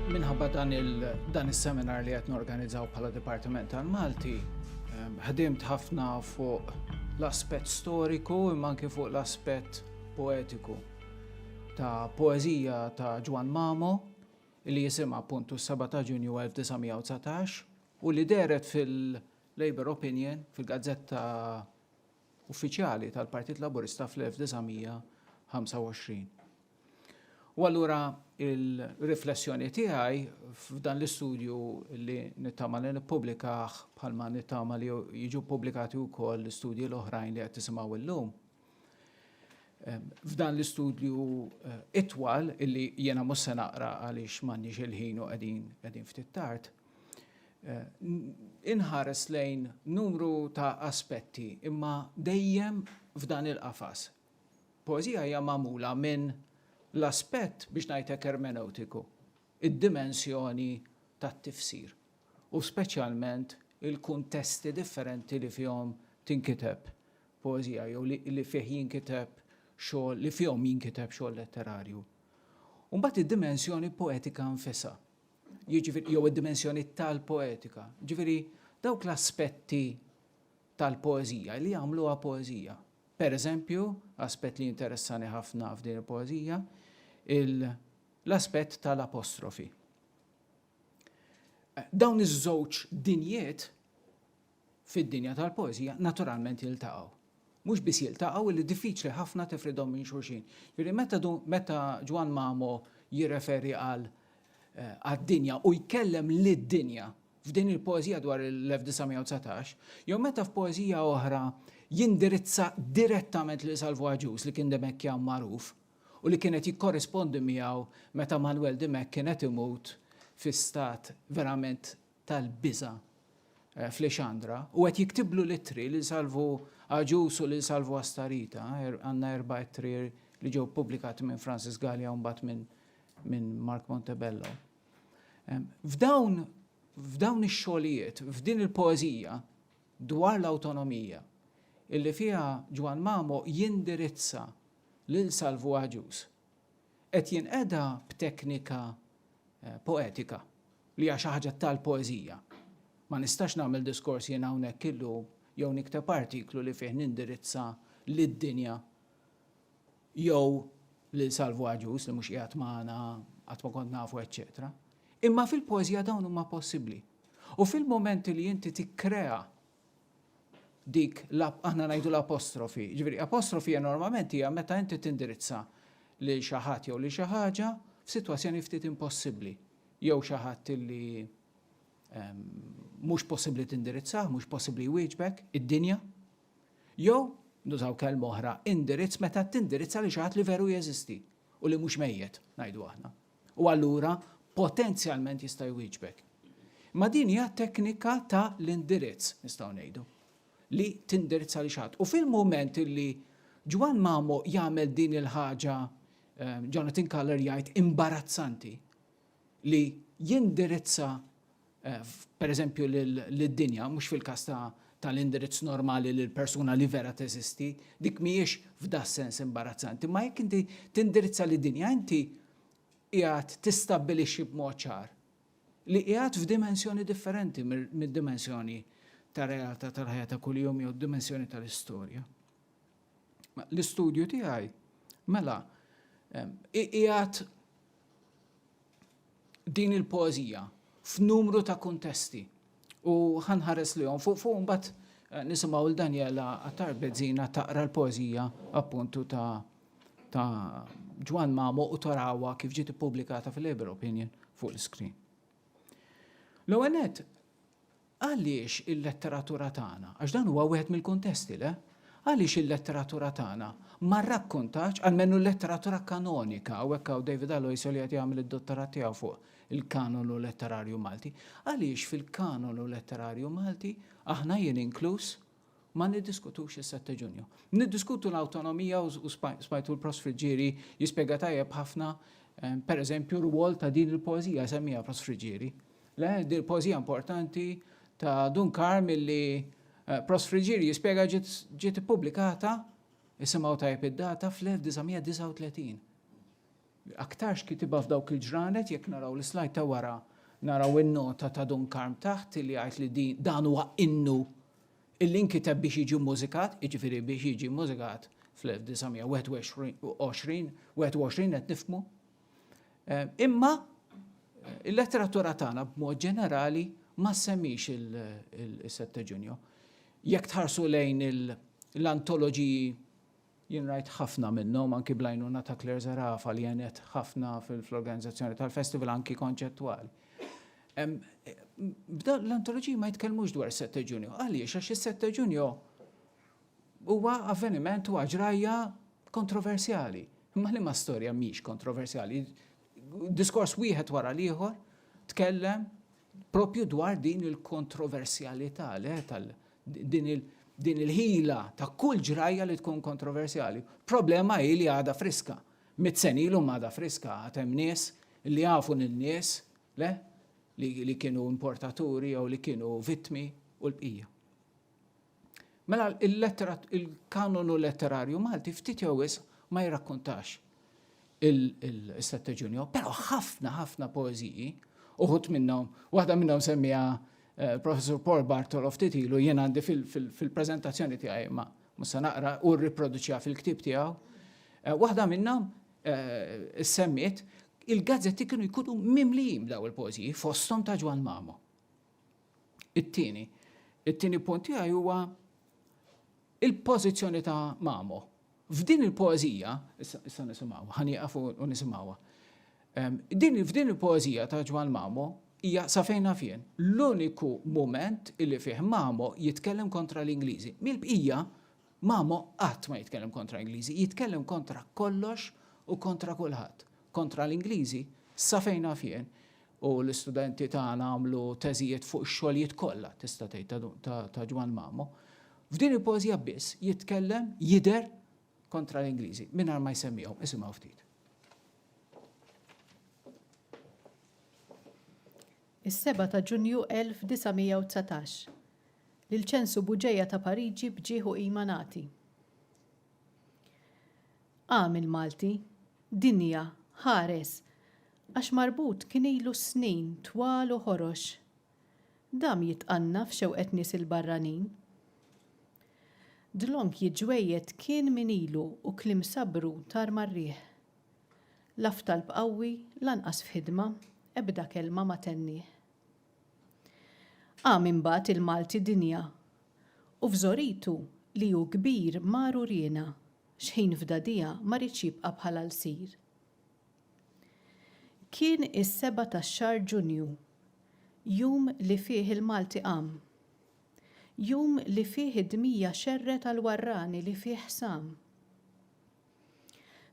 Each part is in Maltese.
Minħabba dan il-dan is-seminar li qed norganizzaw bħala Dipartiment tal-Malti, ehm, ħdimt ħafna fuq l-aspett storiku imma anke fuq l-aspett poetiku ta' poeżija ta' Ġwan Mamo li jisimha appuntu s-7 ta' Ġunju 1919 u li dehret fil-Labour Opinion, fil-gazzetta uffiċjali tal-Partit Laburista fl-1925. U allura il-riflessjoni tiegħi f'dan l-istudju li nittama li nippubblikah bħalma nittama li jiġu ppubblikati wkoll l-istudji l-oħrajn li qed tisimgħu llum, F'dan l-istudju itwal, illi jiena mhux se naqra għaliex m'għandniex il-ħin u qegħdin ftit tard, inħares lejn numru ta' aspetti, imma dejjem f'dan il-qafas. Poeżija hija magħmula minn l-aspett, biex ngħid hekk, ermenewtiku, id-dimensjoni tat-tifsir, u speċjalment il-kuntesti differenti li fihom tinkiteb poeżija jew li li fih jinkiteb xogħol li fihom jinkiteb xogħol letterarju. U mbagħad id-dimensjoni poetika nfisha. Jiġifieri jew id-dimensjoni tal-poetika. Ġifieri dawk l-aspetti tal-poeżija li jagħmluha poeżija. Per eżempju, aspett li interessani ħafna f'din il-poeżija, l-aspett tal-apostrofi. Dawn iż-żewġ dinjiet fid-dinja tal-poeżija naturalment jiltaqgħu. Mhux biss jiltaqgħu illi diffiċli ħafna tifridhom minn xulxin. Jiġifieri meta du meta Ġwann Mamo jirreferi għal eh, għad-dinja u jkellem lid-dinja f'din il-poeżija dwar l-1919, jew meta f'poeżija oħra jindirizza direttament lil Salvo Aġus li kien demekja magħruf u li kienet jikkorrispondi miegħu meta Manuel Demek kienet imut fi stat verament tal-biża' f'Lexandra u qed jiktiblu l-ittri lil Salvu Agius u lil Salvu Astarita, er, għandna erba' ittri li ġew ppubblikati minn Francis Gallia u mbagħad minn min Mark Montebello. F'dawn f'dawn ix-xogħlijiet, f'din il-poeżija dwar l-awtonomija, illi fiha Ġwan Mamo jindirizza lil Salvu Agius qed jinqeda b'teknika poetika li hija xi ħaġa tal-poeżija. Ma nistax nagħmel diskors jien hawnhekk illum jew nikteb artiklu li fih nindirizza lid-dinja jew lil Salvu Agius li mhux qiegħed magħna, qatt ma kont nafu, eċċetera. Imma fil-poeżija dawn huma possibbli. U fil-mumenti li inti tikkrea dik aħna ngħidu l-apostrofi. Ġifieri apostrofi hija normalment hija meta inti tindirizza lil xi ħadd jew lil xi ħaġa f'sitwazzjoni ftit impossibbli jew xi ħadd li ehm, mhux possibbli tindirizzah, mhux possibbli jwieġbek id-dinja. Jew nużaw kelma oħra indirizz meta tindirizza li xi ħadd li veru jeżisti u li mhux mejjet, ngħidu aħna. U allura potenzjalment jista' jwieġbek. Ma din hija teknika ta' l-indirizz, nistgħu ngħidu, li tindirizza li xatt. U fil-mument li Ġwan Mamo jagħmel din il-ħaġa eh, Jonathan Kaller jgħid imbarazzanti li jindirizza pereżempju lid-dinja, mhux fil-każ tal-indirizz normali lill-persuna li vera teżisti, dik mhijiex f'das-sens imbarazzanti, imma jekk inti tindirizza lid-dinja, inti qiegħed tistabbilixxi b'mod ċar li qiegħed f'dimensjoni differenti mid-dimensjoni tar-realtà tal-ħajja ta' kuljum jew d-dimensjoni tal-istorja. L-istudju tiegħi mela iqiegħed din il-poeżija f'numru ta' kuntesti u ħanħares lihom fuq fuq mbagħad eh, nisimgħu l Daniela Attar Bezzina taqra l-poeżija appuntu ta' ta' Ġwan Mamo u tarawa kif ġiet ippubblikata fil-Labor Opinion fuq l-iskrin. L-ewwel Għaliex il-letteratura tagħna, għax dan huwa wieħed mill-kuntesti, le? Għaliex il-letteratura tagħna ma rrakkontatx, almenu l-letteratura kanonika, hawnhekk hawn David Aloisio li qed jagħmel id-dottorat tiegħu fuq il-kanonu letterarju Malti, għaliex fil-kanonu letterarju Malti, aħna jien inkluż, Ma niddiskutux is-sette Ġunju. Niddiskutu l-awtonomija u smajtu l-Prost Friggieri jispjega tajjeb ħafna pereżempju r-rwol ta' din il-poeżija semmija Prost Friggieri. Le, din il-poeżija importanti ta' Dun Karm illi Prost Friggieri jispjega ġiet ippubblikata, isimgħu tajjeb id-data, fl-1939. Aktarx kitibha f'dawk il-ġranet, jekk naraw l-slide ta' wara naraw in-nota ta' Dun Karm taħt li jgħid li din, dan huwa innu illi nkiteb biex jiġi mmużikat, jiġifieri biex jiġi mmużikat fl-1921, 21 qed nifhmu. Imma il-letteratura tagħna b'mod ġenerali ma ssemix il-Setteġunju. Jekk tħarsu lejn l-antoloġiji Jien rajt ħafna minnhom anki bl-għajnuna ta' Claire Zerafa li għenet ħafna fl-organizzazzjoni tal-festival anki konċettwali. B'dan l-antoloġiji ma jitkellmux dwar is-Sette Ġunju. Għaliex? Għax is-Sette Ġunju huwa avveniment huwa ġrajja kontroversjali. Imma liema storja mhix kontroversjali? Diskors wieħed wara l-ieħor tkellem Proprju dwar din il-kontroversjalità le tal din il din il-ħila ta' kull ġrajja li tkun kontroversjali. Problema hi li għada friska. Mit senilu għada friska għad hemm nies li jafu lil nies le li, li kienu importaturi jew li kienu vittmi u l-bqija. Mela il-lettera il-kanonu letterarju Malti ftit jew wisq ma jirrakkuntax il-Sette Ġunju, però ħafna ħafna poeżiji uħut minnhom, waħda minnhom semmija eh, professur Paul Bartolo ftit ilu jien għandi fil-preżentazzjoni tiegħi ma musa naqra u rriproduċja fil-ktieb tiegħu. Eh, waħda minnhom eh, semmiet il-gazzetti kienu jkunu mimlijim daw il-pożiji fosthom ta' Ġwan Mamo. It-tieni, it-tieni punt tiegħi huwa il-pożizzjoni ta' Mamo. F'din il-poeżija, issa nisimgħu, ħanieqaf u nisimgħuha. Din f'din il-poeżija ta' Ġwan Mamo hija sa fejn nafjen l-uniku mument illi fih Mamo jitkellem kontra l-Ingliżi. Mill-bqija, Mamo qatt ma jitkellem kontra l-Ingliżi, jitkellem kontra kollox u kontra kulħadd. Kontra l-Ingliżi sa fejn nafjen U l-istudenti tagħna għamlu teżijiet fuq ix-xogħlijiet kollha, tista' tgħid, ta' Ġwann Mamo. F'din il-poeżija biss jitkellem, jidher, kontra l-Ingliżi, mingħajr ma jsemmihom. Isimgħu ftit. Is-7 ta' Ġunju 1919. Lil ċensu buġeja ta' Pariġi b'ġieħ u qima nagħti. Qam il-Malti, dinja, ħares, Għax marbut kien ilu snin twal u ħorox. Dam jitqanna f'xewqet nies il-barranin. Dlonk jiġġwejjed kien min ilu u kliem sabbru tar mar-riħ. La f'talb qawwi, lanqas f'ħidma, ebda kelma ma tennieh. Qam imbagħad il-Malti dinja u f'żoritu li hu kbir mar uriena x'ħin f'dadija ma riedx jibqa' bħala lsir. Kien is-seba' tax-xahar Ġunju, jum li fih il-Malti qam. Jum li fih id-dmija xerred għall-warrani li fih sam.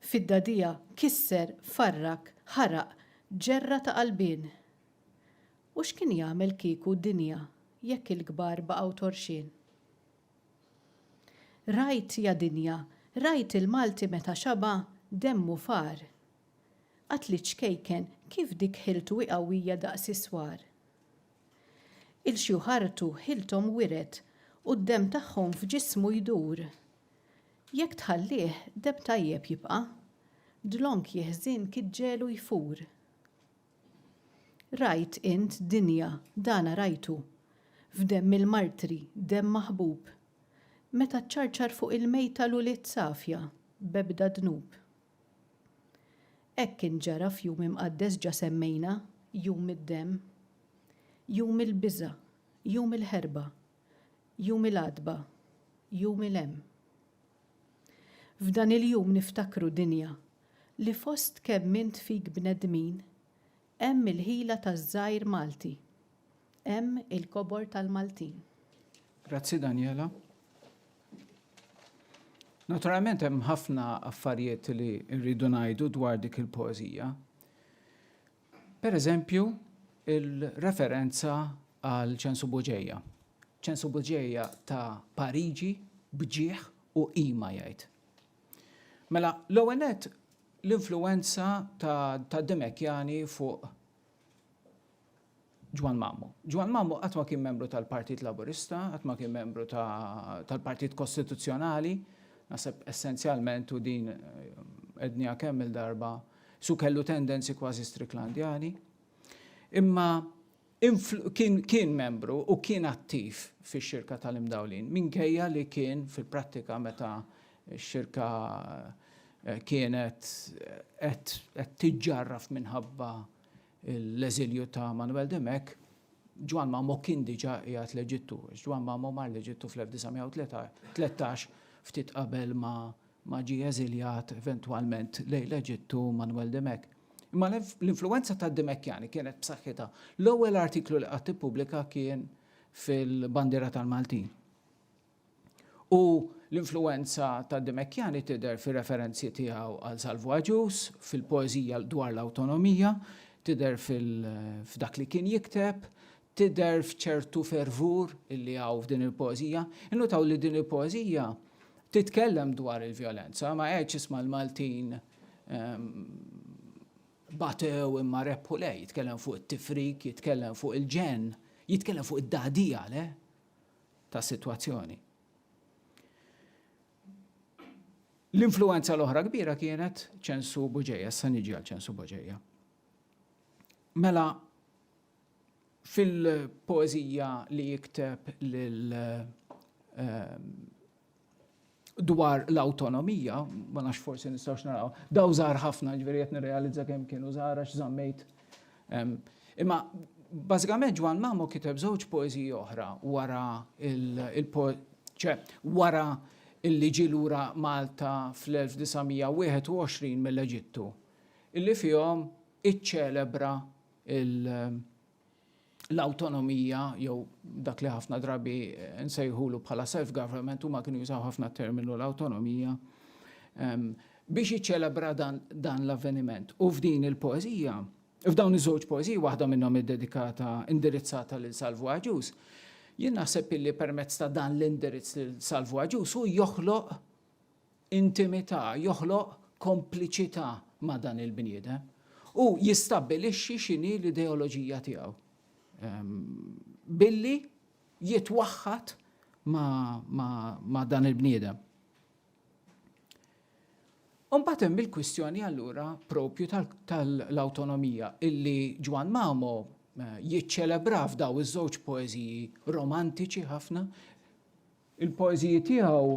Fid-dagħdigħa kisser, farrak, ħaraq, ġerra ta' qalbien. U x'kien jagħmel kieku dinja jekk il-kbar baqgħu torxien? Rajt ja dinja, rajt il-Malti meta xaba' demmu far. Qatli ċkejken kif dik ħiltu hi qawwija daqs is-swar. Il-xjuħ artu ħilthom wiret u d-demm tagħhom f'ġismu jdur. Jekk tħallih demm tajjeb jibqa', dlonk jeħżin kiġġelu jfur. Rajt int dinja, dana rajtu. F'demm il-martri, demm maħbub. Meta ċċarċar fuq il-mejta l-ulied safja, b'ebda dnub. Hekk int ġara f'jum imqaddes ġa semmejna, jum id-demm. Jum il-biża', jum il-ħerba, Jum il-Għatba, Jum il-Hemm. F'dan il-jum niftakru dinja li fost kemm int fik bnedmin, hemm il-ħila taż-żgħir Malti, hemm il-kobor tal-Maltin. Grazzi Daniela. Naturalment hemm ħafna affarijiet li rridu ngħidu dwar dik il-poeżija. Per eżempju, il-referenza għal Ċensu Buġeja. Ċensu Buġeja ta' Pariġi bġieħ u qima jgħid. Mela, l-ewwel l-influwenza ta' Dimekjani fuq Ġwann Mammu. Ġwann Mammu qatt ma kien membru tal-Partit Laburista, qatt ma kien membru tal-Partit Kostituzzjonali, naħseb essenzjalment u din għedniha kemm-il darba, su kellu tendenzi kważi Stricklandjani. Imma kien membru u kien attiv fix-Xirka tal-Imdawlin minkejja li kien fil-prattika meta x-Xirka kienet qed tiġġarraf minħabba l-eżilju ta' Manuel Dimech, Ġwann Mamo kien diġà qiegħed l-Eġittu, għax Ġwann Mamo mar l-Eġittu fl-1913, ftit qabel ma ġie eżiljat eventwalment lejn l-Eġittu Manuel Dimech. Imma l-influwenza tad-Dimechjani kienet b'saħħitha. L-ewwel artiklu li qatt ippubblika kien fil-Bandiera tal-Maltin. U l-influwenza ta' Demekiani tidher fir-referenzi tiegħu għal Salvu Agius, fil-poeżija dwar l-awtonomija, tidher f'dak li kien jikteb, tidher f'ċertu fervur li hawn f'din il-poeżija. Innutaw li din il-poeżija titkellem dwar il-vjolenza, ma għedx isma' l-Maltin batew imma rebħu, le, jitkellem fuq it-tifrik, jitkellem fuq il-ġenn, jitkellem fuq id-dagħdija, le, tas-sitwazzjoni. L-influwenza l-oħra kbira kienet ċensu Buġeja, issa niġi għal ċensu Buġeja. Mela, fil-poezija li jikteb lil ehm, dwar l-awtonomija, ma nafx forsi nistgħux naraw, daw żgħar ħafna, ġifieri qed nirrealizza kemm kienu żgħar għax żammejt. Imma bażikament Ġwan Mamo kiteb żewġ poeżiji oħra wara il ċe wara illi ġi lura Malta fl-1921 mill-Eġittu, illi fihom iċċelebra il- l-awtonomija jew dak li ħafna drabi nsejħulu bħala self-government huma kienu jużaw ħafna terminu l-awtonomija ehm, biex jiċċelebra dan, dan l-avveniment. U f'din il-poezija, f'dawn iż-żewġ poeziji, waħda minnhom iddedikata indirizzata lil Salvu Aġus, jien naħseb illi permezz ta' dan l-indirizz lil Salvu Aġus u joħloq intimità, joħloq kompliċità ma' dan il-bniedem u jistabbilixxi x'inhi l-ideoloġija tiegħu. Ehm, billi jitwaħħad ma' dan il-bniedem. Umbat hemm il-kwistjoni allura propju tal-awtonomija illi Ġwan Mamo eh, jiċċelebra f'daw iż-żewġ poeżiji romantiċi ħafna Il-poeżiji tiegħu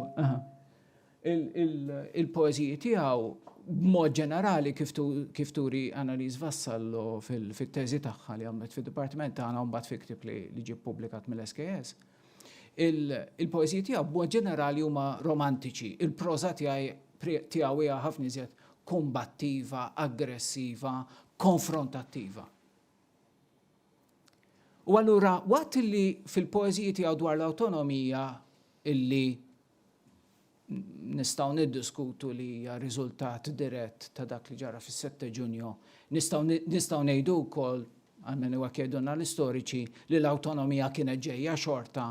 Il-poeżiji tiegħu b'mod ġenerali kif turi Annalise Vassallo fit-teżi tagħha li għamlet fid-dipartiment tagħna u mbagħad fi ktieb li ġie ppubblikat mill-SKS, il-poeżiji tiegħu b'mod ġenerali huma romantiċi. Il-proża tiegħu hija ħafna iżjed kumbattiva, aggressiva, konfrontattiva. U allura waqt li fil-poeżiji tiegħu dwar l-awtonomija illi nistgħu niddiskutu li hija riżultat dirett ta' dak li ġara fis-Sette Ġunju, nistgħu ngħidu wkoll, għalmenu hekk jgħidulna l-istoriċi, li l-awtonomija kienet ġejja xorta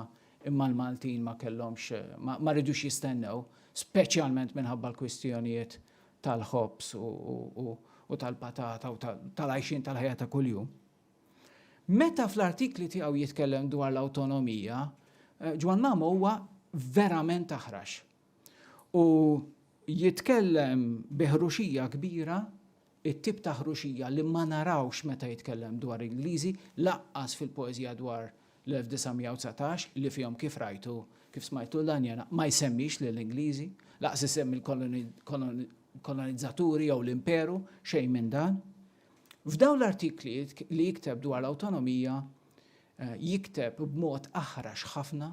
imma l-Maltin ma kellhomx ma ridux jistennew, speċjalment minħabba l-kwistjonijiet tal-ħobż u tal-patata u tal-għajxien tal-ħajja ta' kuljum. Meta fl-artikli tiegħu jitkellem dwar l-awtonomija, Ġwann Mamo huwa verament aħrax. U jitkellem bi ħruxija kbira, it-tip ta' ħruxija li ma narawx meta jitkellem dwar Ingliżi, laqqas fil-poeżija dwar l-1919 li fihom kif rajtu, kif smajtu lil Anjena, ma jsemmix lill-Ingliżi, laqqas isemmi l-kolonizzaturi jew l-imperu, xejn minn dan. F'dawn l-artikli li jikteb dwar l-awtonomija jikteb b'mod aħrax ħafna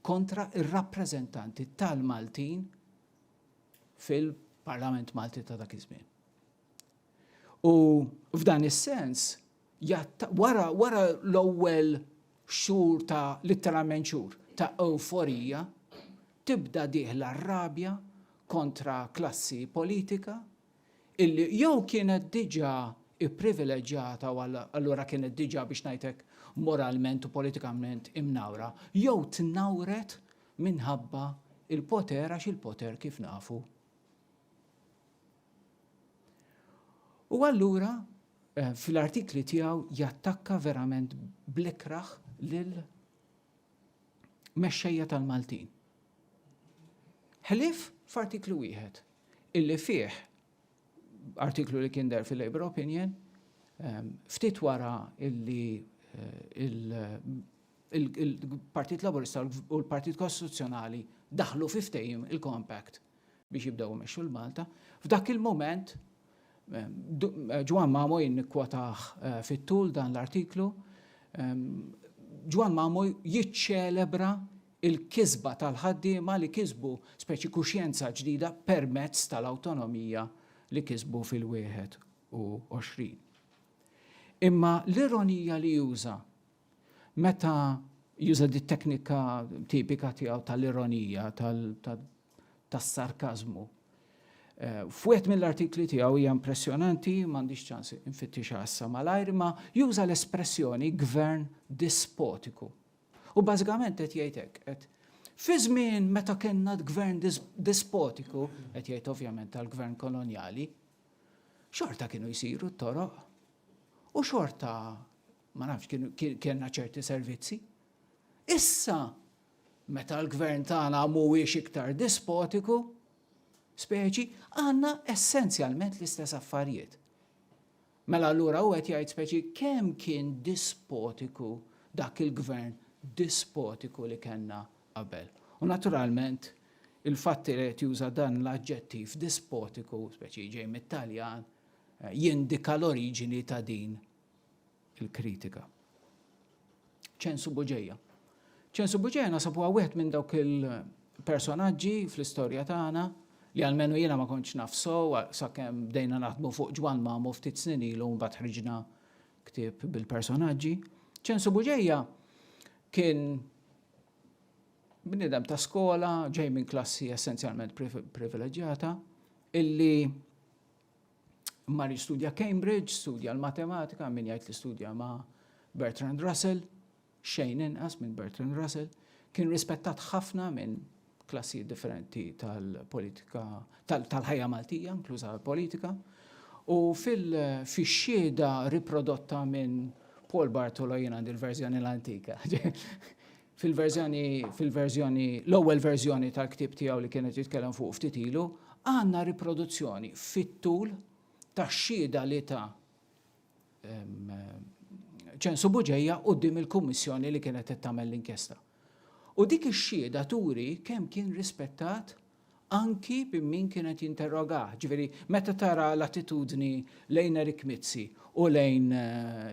kontra r-rappreżentanti tal-Maltin fil-Parlament Malti ta' dak iż-żmien. U f'dan is-sens, wara, wara l-ewwel xhur ta' litteralment xhur ta' euforija, tibda dieħla rabja kontra klassi politika illi jew kienet diġà ipprivileġġata u allura kienet diġà biex ngħid hekk moralment u politikament imnawra, jew tnawret minħabba l-poter għax il-poter kif nafu. U allura eh, fl-artikli tiegħu jattakka verament blikraħ lil mexxejja tal-Maltin. Ħlief f'artiklu wieħed illi fih artiklu li kien der fil-Labour Opinion ftit wara illi il-Partit Laburista u l-Partit Kostituzzjonali daħlu fi ftehim il-Compact biex jibdew imexxu l-Malta. F'dak il-moment Ġwan Mamo jinnikwataħ eh, fit-tul dan l-artiklu, Ġwan Mamo jiċċelebra il-kisba tal-ħaddiema li kisbu speċi kuxjenza ġdida permezz tal-awtonomija li kisbu fil-21. Imma l-ironija li juża meta juża dit-teknika tipika tiegħu tal-ironija, tas-sarkażmu, f'wieħed mill-artikli tiegħu hija impressjonanti, m'għandix ċans infittixha issa malajr, imma juża l-espressjoni gvern dispotiku. Hu bażikament qed jgħid hekk, qed fi żmien meta kellna gvern dispotiku, qed jgħid ovvjament tal-gvern kolonjali, xorta kienu jsiru t-toroq u xorta ma nafx kienna ċerti servizzi. Issa, meta l-gvern tagħna mhuwiex iktar dispotiku, speċi, għandna essenzjalment l-istess affarijiet. Mela allura hu qed jgħid speċi kemm kien dispotiku dak il-gvern dispotiku li kellna qabel. U naturalment il-fatt li qed juża dan l-aġġettiv dispotiku, speċi ġej mit-Taljan, jindika l-oriġini ta' din il-kritika. ċensu Buġeja. ċensu Buġeja nasab huwa wieħed minn dawk il-personaġġi fl-istorja tagħna li għalmenu jiena ma kontx naf sow sakemm bdejna naħdmu fuq Ġwan Mamu ftit snin ilu mbagħad ħriġna ktieb bil-personaġġi. ċensu Buġeja kien bnidem ta' skola ġej minn klassi essenzjalment privileġġjata illi mar jistudja Cambridge, studja l-matematika, min jgħid li studja ma' Bertrand Russell, xejn inqas minn Bertrand Russell, kien rispettat ħafna minn klassijiet differenti tal-politika, tal-ħajja Maltija, inkluża l-politika, u fil-xieda riprodotta minn Paul Bartolo jien għandi l-verżjoni l-antika. fil-verżjoni, fil-verżjoni, l-ewwel verżjoni tal-ktieb tiegħu li kienet jitkellem fuq ftit ilu, għandna riproduzzjoni fit-tul tax-xhieda li ta' ċensu buġeja quddiem il-kummissjoni li kienet qed tagħmel l-inkjesta. U dik ix-xhieda turi kemm kien rispettat anki minn min kien qed jinterrogah, ġifieri meta tara l-attitudni lejn Eric Mizzi u lejn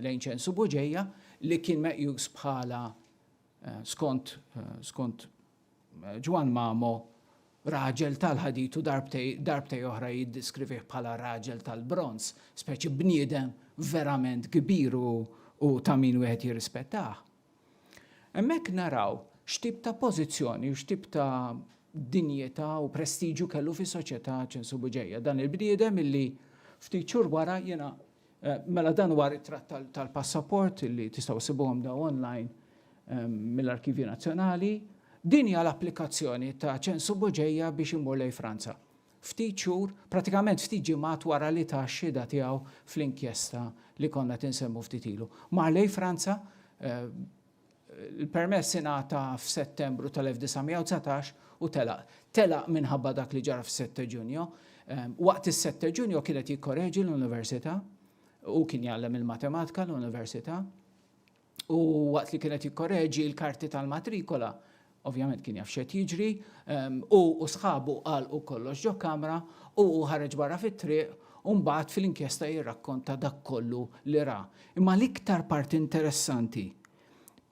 lejn Ċensu Buġeja li kien meqjus bħala skont skont Ġwann Mamo raġel tal-ħadid u darbtej darbtej oħra jiddiskrivih bħala raġel tal-bronż, speċi bniedem verament kbir u u ta' min wieħed jirrispettah. Hemmhekk naraw x'tip ta' pożizzjoni u x'tip ta' dinjità u prestiġju kellu fis-soċjetà Ċinsu Bugeja, dan il-bniedem illi ftit xhur wara jiena Mela dan huwa ritratt tal-passaport illi tistgħu issibuhom dawn online mill-Arkivju Nazzjonali. Din hija l-applikazzjoni ta' Ċensu Bugeja biex imur lejn Franza. Ftit xhur, pratikament ftit ġimgħat wara li ta x-xhieda tiegħu fl-inkjesta li konna qed insemmu ftit ilu. Mar lejn Franza, l-permess ingħata f'Settembru tal-1919 u telaq. Telaq minħabba dak li ġara fis-Sette Ġunju. Waqt is-Sette Ġunju kien qed jikkoreġi l-Università, hu kien jgħallem il-Matematika l-Università. u waqt li kien qed jikkoreġi l-karti tal-matrikola, ovvjament kien jaf x'qed jiġri, hu u sħabu għalqu kollox ġo kamra u hu ħareġ barra fit-triq u mbagħad fil-inkjesta jirrakkonta dak kollu li ra. Imma l-iktar parti interessanti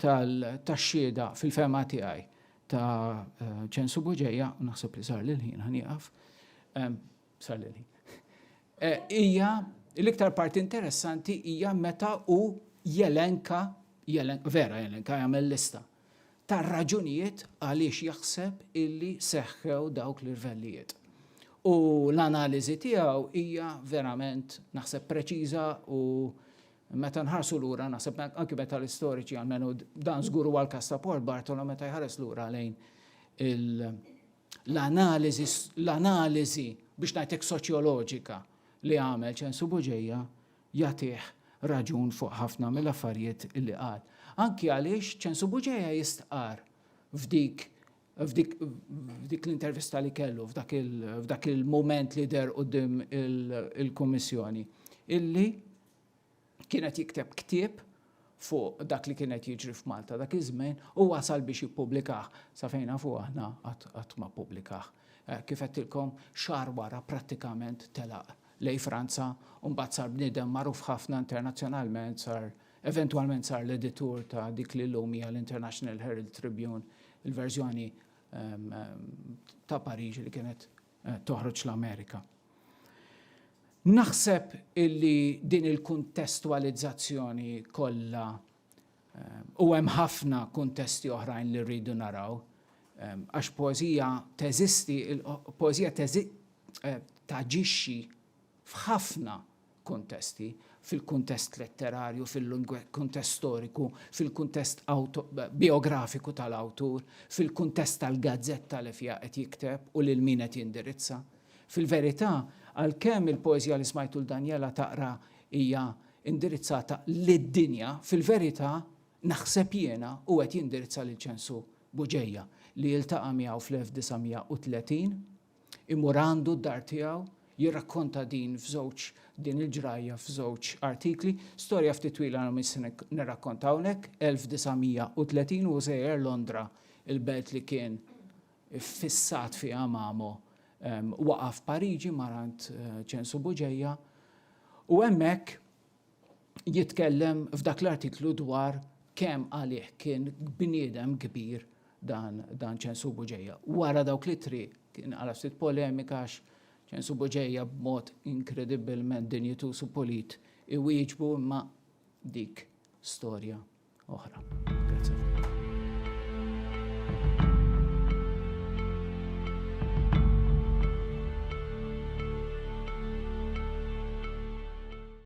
tax-xhieda fil-fehma tiegħi ta' Ċensu Buġeja, u naħseb li sar li l-ħin ħa nieqaf, Sal-lili. Hija l-iktar parti interessanti hija meta hu jelenka, vera jelenka jagħmel lista tar-raġunijiet għaliex jaħseb illi seħħew dawk l-irvellijiet. U l-analiżi tiegħu hija verament naħseb preċiża u meta nħarsu lura naħseb anki meta l-istoriċi għalmenu dan żgur huwa l-każ ta' Paul Bartolo meta jħares lura lejn il- L-analiżi, l-analiżi, biex ngħidlek soċjoloġika, li għamel Ċensu Buġeja jagħtih raġun fuq ħafna mill-affarijiet li qal. Anki għaliex Ċensu Buġeja jistqarr f'dik f'dik f'dik l-intervista li kellu f'dak il f'dak il-mument li deher quddiem il-Kummissjoni illi kien qed jikteb ktieb fuq dak li kien qed jiġri f'Malta dak iż-żmien u wasal biex jippubblikah. Sa fejn nafu aħna qatt ma ppubblikah. Kif għedtilkom, xahar wara prattikament telaq lejn Franza u mbagħad sar bniedem magħruf ħafna internazzjonalment, sar eventwalment sar l-editur ta' dik li llum hija l-International Herald Tribune, il-verżjoni ta' Pariġi li kienet toħroġ l-Amerika. Naħseb illi din il-kuntestwalizzazzjoni kollha u hemm ħafna kuntesti oħrajn li rridu naraw għax poezija teżisti, poezija eh, taġixxi f'ħafna kuntesti, fil-kuntest letterarju, fil-kuntest storiku, fil-kuntest bijografiku tal-awtur, fil-kuntest tal-gazzetta li fiha qed jikteb u lil min qed jindirizza. Fil-verità, għalkemm il-poeżija li smajtu 'l Daniela taqra hija indirizzata lid-dinja, fil-verità, naħseb jiena, hu qed jindirizza lil Ċensu Buġeja, li iltaqa' miegħu fl-1930, Imur għandu d-dar tiegħu, jirrakkonta din f'żewġ din il-ġrajja f'żewġ artikli. Storja ftit twila għal min se nirrakkonta hawnhekk, 1930 hu żejjer Londra, il-belt li kien iffissat fiha Mamo, waqaf Pariġi mar għand Ċensu Buġeja u hemmhekk jitkellem f'dak l-artiklu dwar kemm għalih kien bniedem kbir dan dan Ċensu Buġeja. Wara dawk l-ittri kien għala ftit polemika għax Ċensu Buġeja b'mod inkredibbilment dinjituż u pulit iwieġbu imma dik storja oħra. Grazie.